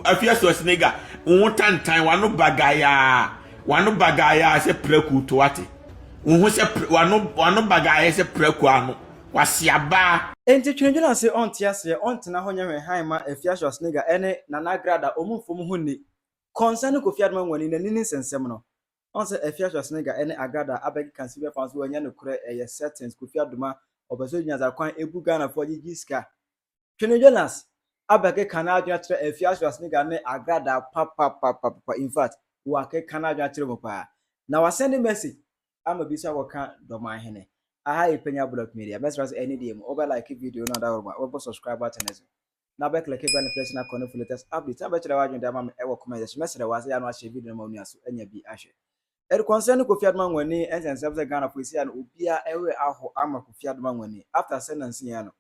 Afia Schwarzenegger, wo ho tantan, w'ano bagayaa, w'ano bagayaa sɛ prako to ate. Wo ho sɛ w'ano w'ano bagayaa sɛ prako ano, w'ase abaa. Enti Twenedwen ase ɔnte aseɛ ɔntena hɔ nyɛ hwee hann mma Afia Schwarzenegger ɛne Nana Agrada ɔmo mfa ɔmo ho nni Kɔnsa ne Kofi Adoma Nwani na nini nsɛnsɛm no Ɔn sɛ Afia Schwarzenegger ɛne Agrada abɛkeka sibia fa nso ɛnyɛ nokorɛ ɛyɛ settings Kofi Adoma ɔpɛsɛ ɔnya dza kwan ɛbu Ghanafoɔ agyegye sika Twene Jonas abɛkeka n'adwene akyerɛ Afia Schwarzenegger ne Agrada papapapapa infact wakeka n'adwene akyerɛ mu paa na wasɛnde message ama bi sɛ akɔka Dɔman Hene aha yi Panya Blog Media mɛsrɛ sɛ ɛne deɛ mu wobɛ like video no adaworomaa wobɛbɔ subscribe button no so na bɛ click bell notification akɔ no for latest updates na bɛkyerɛ w'adwene de ama me ɛwɔ comment section mɛsrɛ wɔ sɛ yɛ no ahyɛ video no ma onua so anya bi ahwɛ Ɛde concerning Kofi Adoman Nwani ɛnsɛ nsɛm sɛ Ghana fo ɛsi ano obiara ɛwerɛ aho ama Kofi Adoman Nwani after sɛ nansi yɛn ano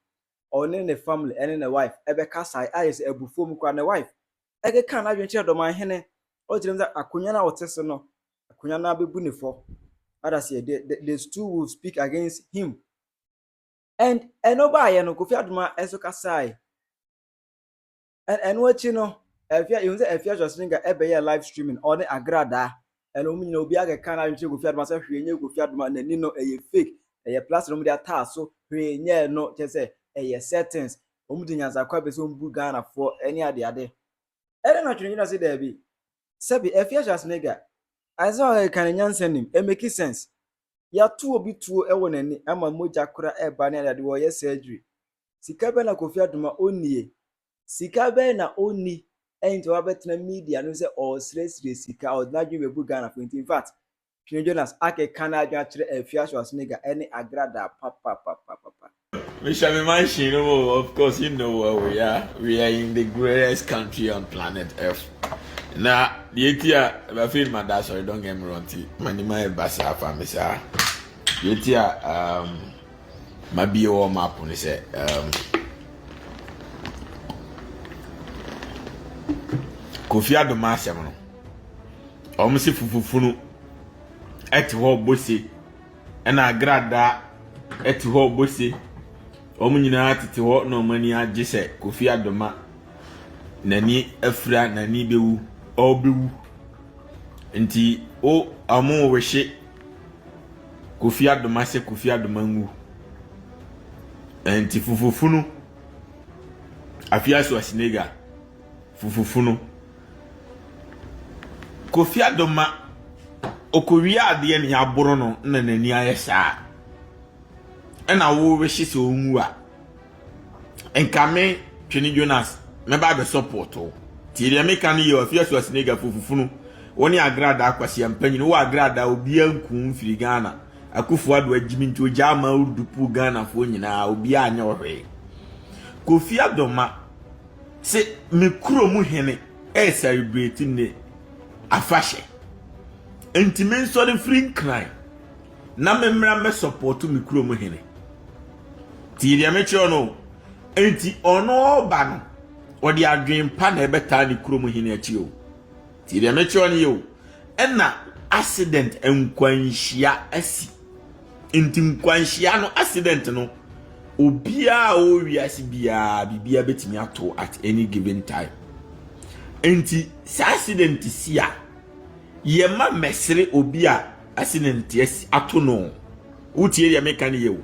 ɔne ne family ɛne ne wife ɛbɛkasae ayɛ sɛ abufuo mu koraa ne wife ɛkeka n'adwene kyerɛ dɔman hene ɔkyerɛ mu sɛ akonwa no a ɔte so no akonwa no abɛbu ne fɔ that is the, the, the stool will speak against him and ɛno baayɛ no kofi adoma ɛso kasae ɛno akyi no afia yɛhu sɛ afia swasenka ɛbɛyɛ live streaming ɔne agradaa ɛna wɔn nyinaa obi akɛka no adwenkyerɛ kofi adoma sɛ hwee nyɛ kofi adoma n'ani no ɛyɛ fake ɛyɛ plaster wɔn de ataa so hwee nyɛ no kyɛ sɛ ɛyɛ settings wɔn de nyansakwa bɛ sɛ wɔn bu ghanafoɔ ɛne ade ade ɛna na twene gyina se daabi sɛbi afia swasenka ansa ɔkeka ne nyansa nim it make sense yɛato obi tuo ɛwɔ n'ani ama mogya kora ɛba ne ade ade wɔyɛ surgery Sika bɛn na Kofi Adoma ɔnnie? Sika bɛn na ɔnni nti wabɛtena media no sɛ ɔresrɛsrɛ sika, ɔde n'adwene bɛbu Ghanafoɔ nti. Infact, Twene Jonas akeka n'adwene akyerɛ Afia Schwarzenegger ɛne Agradaa papapapapa. Me hyɛ me mansion no mu o, of course you know where we are, we are in the greatest country on planet earth. Na deɛ ɛti a, afei no mada asɔre, don't get me wrong, nti m'anim ayɛ basaa afa me saa. Deɛ ɛti a, um, Mabie wɔ map no sɛ um, Kofi Adoma asɛm no wɔn se fufufunu ɛte hɔ bose ɛna agradaa ɛte hɔ bose wɔn nyinaa tete hɔ na wɔn ani agye sɛ kofi adoma n'ani afira n'ani bɛwu ɔbɛwu nti o wɔn wehye Kofi adom ahyɛ Kofi adom anwu ɛnti fufufunu afia Schwarzenegger fufufunu Kofi adom ma ɔkɔwia adeɛ ne aboro no na n'ani ayɛ saa ɛna wowehye sɛ ɔnwu a nka me twene jonas mɛba abɛ support wo tie deɛ meka no yɛ afia so asinega fufufunu wo ne agrada akwasi ampanyin wo agrada obia nku mfiri ghana akufo ado agyimi nti ogya ama urdu pu ghana foɔ nyinaa obia anyɛ ɔhwee kofi adoma se me kuro mu hene ɛyɛ celebrate ne afahyɛ nti me nsɔre firi nkran na me mmra mɛ support me kuro mu hene Tie deɛ mekyerɛ no o. Enti ɔno ɔba no, ɔde adwene pa na ɛbɛtaa ne kurom hene akyi o. Tie deɛ mekyerɛ no yɛ o. Ɛna accident nkwanhyia asi. Nti nkwanhyia no accident no obiara a ɔwɔ wiase biara biribiara bɛtumi ato at any given time. Nti saa accident si a yɛma mɛsere obi a accident ato no. Wotie deɛ meka no yie o.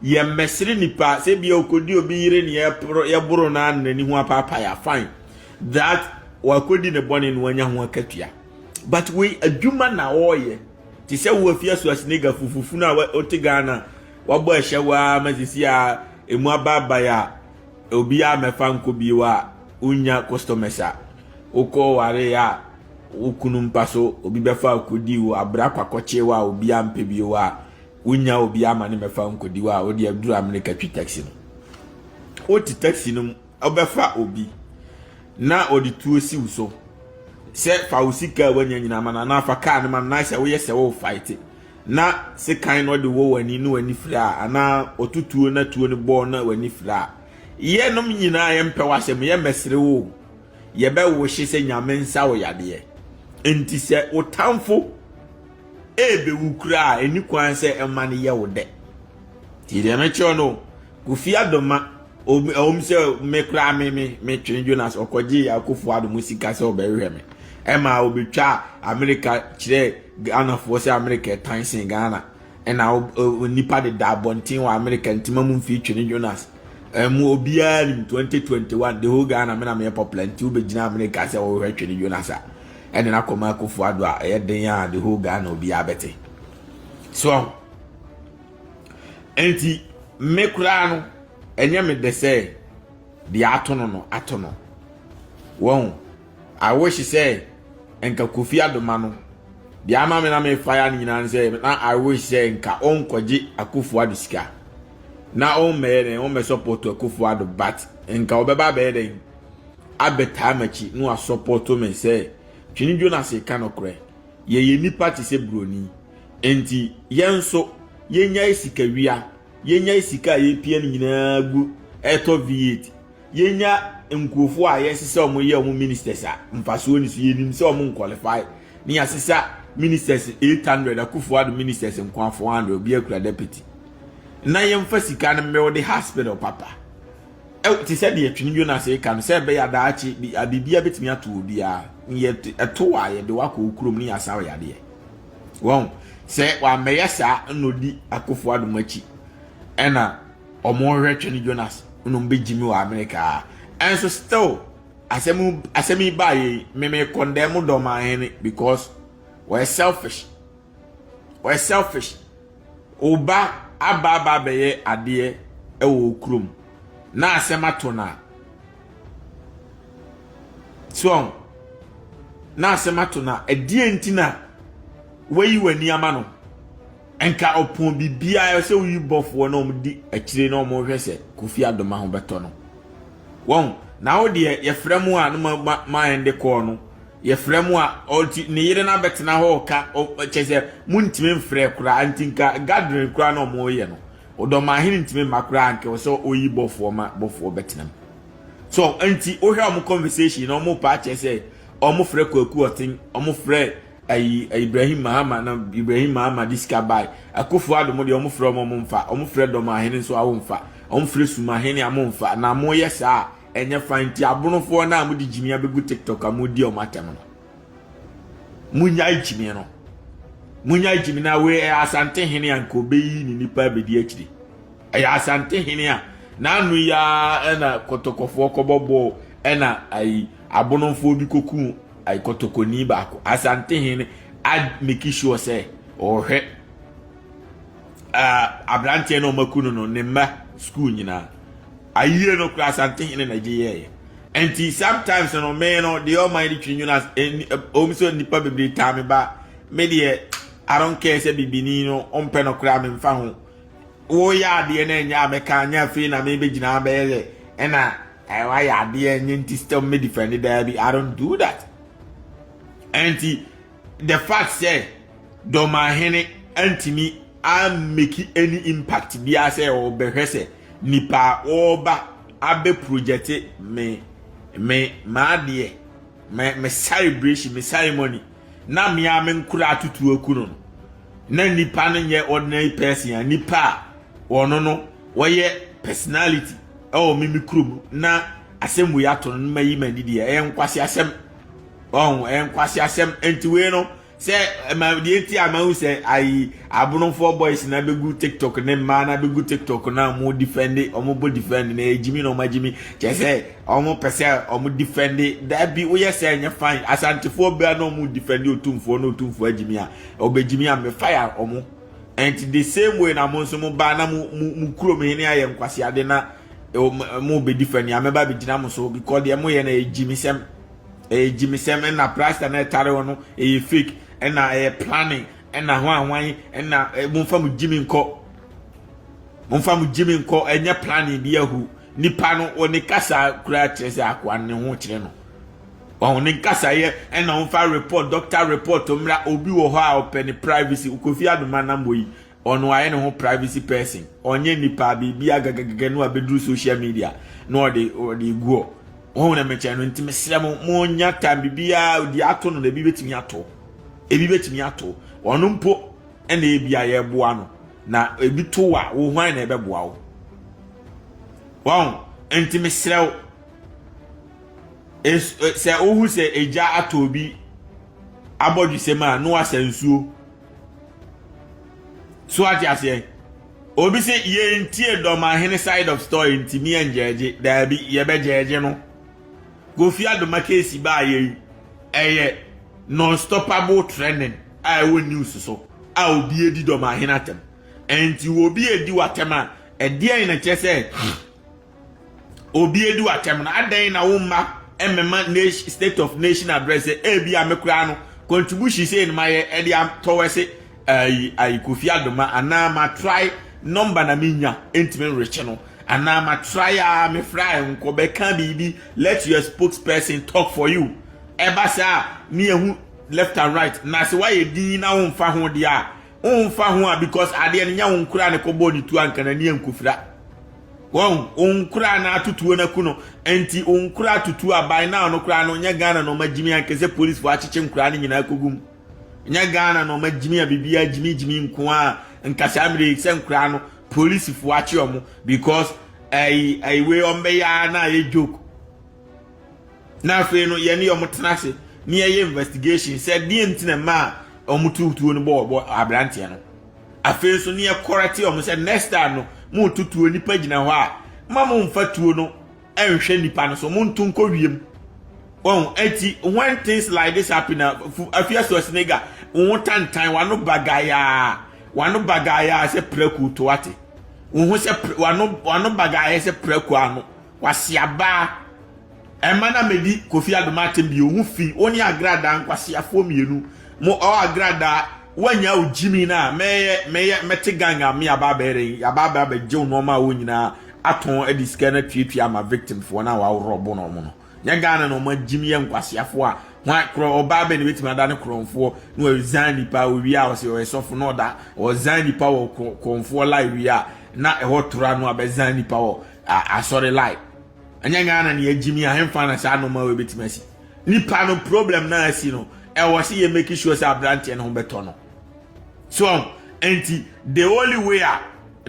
Yɛmmɛsere nnipa, sɛ ebia ɔkɔdi obi yere ne yɛboro no ara na n'ani ho apaapae a, fine. That wakɔdi ne bɔne na wanya ho akatua. But wei adwuma na ɔreyɛ. Te sɛ wo afia so asiniga fufufunu a wote Ghana wabɔ ɛhyɛ wo ara ma sisi a ɛmu abaabae a obiara mmɛfa nkɔ bio a, wonnya customers a, wokɔ waree a wo kunu mpa so, obi bɛfa akodi wo, abra kwakɔkye wo a obi ampɛ bio a, wonnya obi ama ne mɛfa nkodi wo a, wo deɛ duru Amerika twi taxi no. Wote taxi no mu, wobɛfa obi na ɔde tuo si wo so sɛ fa wo sika a woanya nyinaa ma no anaa fa kaa no ma no, na sɛ woyɛ sɛ wo fight na sekan no ɔde wɔ w'ani na w'ani fira a anaa ɔto tuo na tuo no bɔɔ na w'ani fira a, Yɛnom nyinaa yɛmpɛ w'asɛm, yɛmmɛsere wo o, yɛbɛwo wo hye sɛ Nyame nsa wo yadeɛ. Enti sɛ wo tamfo ɛɛbɛwu koraa a, ɛnni kwan sɛ ɛma no yɛ wo dɛ. Nti deɛ mɛkyerɛ wo no, Kofi Addo ma, ɛwom sɛ me koraa me me metwene Jonas, ɔkɔgyee Akuffo Addo mu sika sɛ ɔbɛhwehwɛ me. Ɛmaa ɔbɛtwaa Amerika kyerɛɛ Ghanafoɔ sɛ Amerika ɛtan sen Ghana. Ɛna nnipa deda abɔnten wɔ Amerika ntima mu mfii twene Jonas. Ɛmu obiara nim 2021 the whole Ghana mena meyɛ popular nti wobɛgyina Amerika sɛ wɔhwɛ twene Jonas a ɛne na kɔma akufo ado a ɛyɛ den a the whole Ghana obiara bɛte. So nti me koraa no ɛnyɛ me de sɛ deɛ ato no no ato no. Wɔn I wish sɛ nka Kofi Adoma no deɛ ama me na me fire no nyinaa no sɛ na I wish sɛ nka ɔnkɔgye Akufo Addo sika na ɔmmɛyɛ dɛn ɔmmɛ support Akufo Addo but nka ɔbɛba abɛyɛ dɛn abɛtaa m'akyi na wasɔpɔto me sɛ Twene Jonas ka nokorɛ yɛyɛ nnipa te sɛ buroni nti yɛn nso yɛnyae sikawia yɛnyae sika a yɛpia no nyinaa gu ɛtɔ V8 Yɛnya nkurɔfoɔ a yɛse sɛ wɔn yɛ wɔn ministers a, mfasoɔ ni so. Yɛnim sɛ wɔn nkwalifai. Ne yɛasesa ministers 800, Akufo Addo ministers nko a 400, obiara kura deputy. Na yɛmfa sika no mbuilde hospital papa. Ɛw, te sɛ deɛ Twene Jonas reka no, sɛ ɛbɛyɛ a daakye bi, a biribiara bɛtumi ato obiara. Ne yɛ, ɛto a, yɛde wo akɔ wo kurom ne yɛasa wo yadeɛ. Wɔn, sɛ wammɛyɛ saa na ɔdi Akufo Addo mo akyi, ɛna Ɔmo hwɛ twene Jonas na ɔmo bɛ gyi me wɔ Amerika aa ɛnso still asɛm asɛm yi baa yɛ yi me me kɔndɛɛ mo dɔ ɔman hene because ɔyɛ selfish ɔyɛ selfish ɔba aba aba abɛyɛ adeɛ ɛwɔ okurom na asɛm ato na so na asɛm ato na ɛdeɛ nti na wayi wɔ ani ama no. Nka ɔpɔn biribiara a ɛsɛ woyi bɔfoɔ na wɔn di akyire na wɔn hwɛ sɛ Kofi Adoma ho bɛtɔ no. Wɔn na wo deɛ yɛfrɛ mo a no ma ma ma yɛn de kɔɔ no yɛfrɛ mo a ɔnti ne yere na bɛtena hɔ ɔka kyɛ sɛ mo ntumi mfrɛ koraa anti nka gathering koraa na wɔn yɛ no ɔdɔmahene ntumi mma koraa anka wɔ sɛ oyi bɔfoɔ ma bɔfoɔ bɛtena mu so anti wohwɛ wɔn conversation na wɔn pa akyɛ sɛ wɔn frɛ kwaku ɔten wɔn frɛ ayi Ibrahim Mahama na Ibrahim Mahama de sika bae. Akufo Addo mo deɛ wɔn frɛ wɔn wɔn mfa, wɔn frɛ Dɔmahene nso a wɔn mfa, wɔn frɛ Sumahene a wɔn mfa. Na mo yɛ saa a ɛnyɛ fine nti abonofoɔ no a mo de gyimia bɛgu TikTok a mo di wɔn atɛm no. Mo nyae gyimie no. Mo nyae gyimie na wei ɛyɛ Asante hene a nka obeyi ne nipa abedi akyiri. Ɛyɛ Asante hene a n'ano yi ara ɛna kɔtɔkɔfoɔ kɔbɔ bɔɔl ɛna ayi abonofoɔ bi koku ai kɔtɔkɔni baako asantehene ameki sure sɛ ɔhwɛ aberanteɛ na ɔmaku no no ne mma sukuu nyinaa ayie no kora asantehene na gye yɛɛyɛ nti sometimes no me no deɛ ɔman de twiri nwunu ɔm sɛ nnipa bebree taa me ba me deɛ I don't care sɛ bibini no ɔmpɛ no koraa memfa ho woyɛ adeɛ no ɛnyɛ a mɛka nyɛ afei na mebɛgyina bɛyɛ dɛ ɛna Ɛɛ wayɛ adeɛ ɛnyɛ nti still me defend daabi I don't do that. Ɛnti the fact sɛ Dɔmahene antumi ameki any impact biara sɛ ɔbɛhwɛ sɛ nipa a ɔreba abɛ project me me m'adeɛ me me celebration me ceremony na me a me nkora atutu aku no no na nipa no nyɛ ordinary person a nipa a ɔno no wɔyɛ personality. ɛwɔ me me kurom na asɛm wei ato no no mayi m'ani deɛ ɛyɛ nkwasi asɛm ɔn ɛyɛ nkwasi asɛm nti wei no sɛ ɛma deɛ nti a mahu sɛ ayi abonofoɔ boys na bɛgu tiktok ne mmaa na bɛgu tiktok na wɔn difɛnde wɔn bɔ difɛnde na ɛgyimi na wɔn agyimi kyɛ sɛ wɔn pɛ sɛ wɔn difɛnde daabi woyɛ sɛ ɛnyɛ fan asantefoɔ bia na wɔn difɛnde otumfoɔ na otumfoɔ agyimi a ɔbɛgyimi a mefa ya wɔn. And the same way na mo nso mo ba na mo mo kurom he ne ayɛ nkwaseade na mo bɛdi fa ni a mɛba bɛgyina mo so because deɛ moyɛ no ɛyɛ gyimisɛm ɛyɛ gyimisɛm ɛna prasta na ɛtare hɔ no ɛyɛ fake ɛna ɛyɛ planning ɛna ho ahwan ɛna momfa mo gyimi nkɔ momfa mo gyimi nkɔ ɛnyɛ planning bi ahu Nipa no wɔ ne kasa koraa kyerɛ sɛ akoa no ne ho kyerɛ no. Wɔn ne nkasayɛ ɛna wɔmfa report, doctor report mmra, obi wɔ hɔ a ɔpɛ ne privacy, Kofi Adoma nam hɔ yi, ɔno wayɛ ne ho privacy person, ɔnyɛ nipa biribia gagagagɛ na wabɛduru social media na ɔde ɔde egu hɔ. Wɔn na mekyɛ no nti mesrɛ mo, mo nya time bibia odi ato no na ebi betumi ato, ebi betumi ato, ɔno mpo ɛna ebi a yɛboa no. na ebi to wo a wo hwan na ɛbɛboa wo wɔn nti mesrɛ wo sɛ wohu sɛ egya atɔ obi abɔdwesɛm a na wasa nsuo so ate aseɛ obi sɛ yɛntie dɔmahene side of story ntimi yɛngyɛgye daabi yɛbɛgyɛgye no kofi adoma keesi baa yɛi ɛyɛ non-stoppable trending a ɛwɔ news so a obi adi dɔm ahene atɛm. Ɛnti obi adi w'atɛm a, ɛdeɛn na kyerɛ sɛ obi adi w'atɛm no? Adɛn na wo mma mmema nation state of nation address sɛ ebi a me koraa no contribution sɛ no mayɛ ɛde atɔwɛse ayi ayi kofi adoma anaa ma try number na menya ɛntimi nrekye no anaa ma try a me fra nkɔ bɛka biribi let your spokesperson talk for you ɛba saa ne ɛho left and right na se wayɛ dinn na wonfa ho deɛ a wonfa ho a because adeɛ no nyɛ wonkoraa ne kɔbɔɔ ne tuo anka nani ankofira wɔn wonkoraa na ato tuo no aku no nti wonkoraa to tuo a by now no koraa no nyɛ Ghana na ɔma gyimi anka sɛ police fo akyekye nkoraa no nyinaa kɔgu mu nyɛ Ghana na ɔma gyimi a biribiara gyimi gyimi nko a nka saa mmerɛ yi sɛ nkoraa no police fo akye ɔmo because ɛyi ɛyi wei ɔmbɛyɛ a na ayɛ joke Na afei no yɛne wɔn tena ase na yɛyɛ investigation sɛ deɛ nti na mmaa a wɔn tu tuo no bɔ bɔ aberanteɛ no afei nso ne yɛ kɔrɛte wɔn sɛ next time no mo tu tuo nipa gyina hɔ a ma mo nfa tuo no nhwɛ nipa no so mo nto nkɔ wiem wɔn eti when things like this happen na afia so asinega wɔn tantan wɔn bagayaa wɔn bagayaa sɛ prɛko to ate wɔn ho sɛ wɔn wɔn bagayaa sɛ prɛko ano Kwasiabaa, Ɛmma na medi Kofi Adom atem bio, ho fi, wo ne Agradaa nkwasiafoɔ mmienu, mo ɔɔ Agradaa, woannya wo gyimi no a, mɛyɛ, mɛyɛ, mɛte gang a, me yɛaba abɛyɛ dɛn, yɛaba abɛ abɛgye wo nnoɔma a ɛwɔ nyinaa atɔn de sika no atuatua ama victimfoɔ no a wɔaworɔbo no wɔn no. Nyɛ Ghana na wɔn agyim yɛ nkwasiafoɔ a, hwan, korɔ, ɔbaa bɛn na ɛbɛtumi ada ne korɔnfoɔ na wɔresign nipa, owie a ɔsɛ ɔyɛ sɔfo na ɔda, ɔresign nipa wɔ korɔnfoɔ lie wie a, na ɛhɔ tora no abɛsign nipa wɔ a asɔre lai ɛnyɛ ghana ne agyimi ahemfa na saa noma wɔ ebɛtumi asi nipa no problem na asi no ɛwɔ sɛ yɛ make sure sɛ aberanteɛ ne ho bɛtɔ no so ɛnti the only way a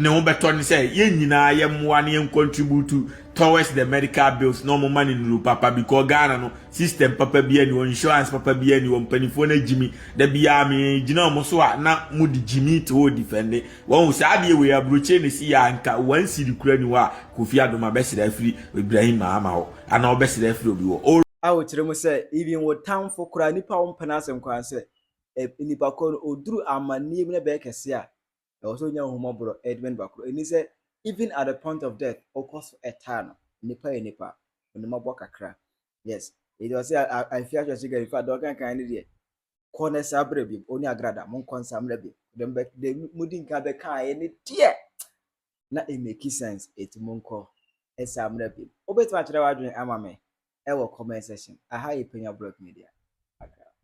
ne ho bɛtɔ ne sɛ yɛn nyinaa yɛ mmoa ne yɛn contribute towards the medical bills na ɔmo ma ne nuru papa because ghana no system papa bi ani wɔ insurance papa bi ani wɔ mpanimfoɔ no agyimi da biara me gyina ɔmo so a na mo de gyimi te hɔ defende Wahu saa adeɛ wei aburokyire na ɛsi yɛ a nka one cedi koraa nni hɔ a Kofi Adom abɛsrɛ afiri Ibrahim Mahama hɔ anaa ɔbɛsrɛ afiri obi hɔ. Ɔre. A wokyerɛ mu sɛ even wo tamfo koraa nipa a wompɛ n'asɛm koraa sɛ nipa korɔ no ɔduru amanneɛ mu na ɛbɛyɛ kɛseɛ a ɛwɔ sɛ ɔnya ahummɔborɔ de ma nipa korɔ ɛni sɛ even at the point of death wokɔ so taa no nipa yɛ nipa ɔnim abɔ kakra yes ɛti ɔse I feel actually so guy infact deɛ ɔkankan no deɛ kɔ na saa berɛ bi ɔne agrada mo nkɔ nsa mmerɛ bi dem bɛ dem mo di nka bɛ kaa yɛ ne deɛ na it make sense eti mo nkɔ nsa mmerɛ bi wobɛtumi akyerɛ w'adwene ama me ɛwɔ comment section aha yɛ panya blog media agrada.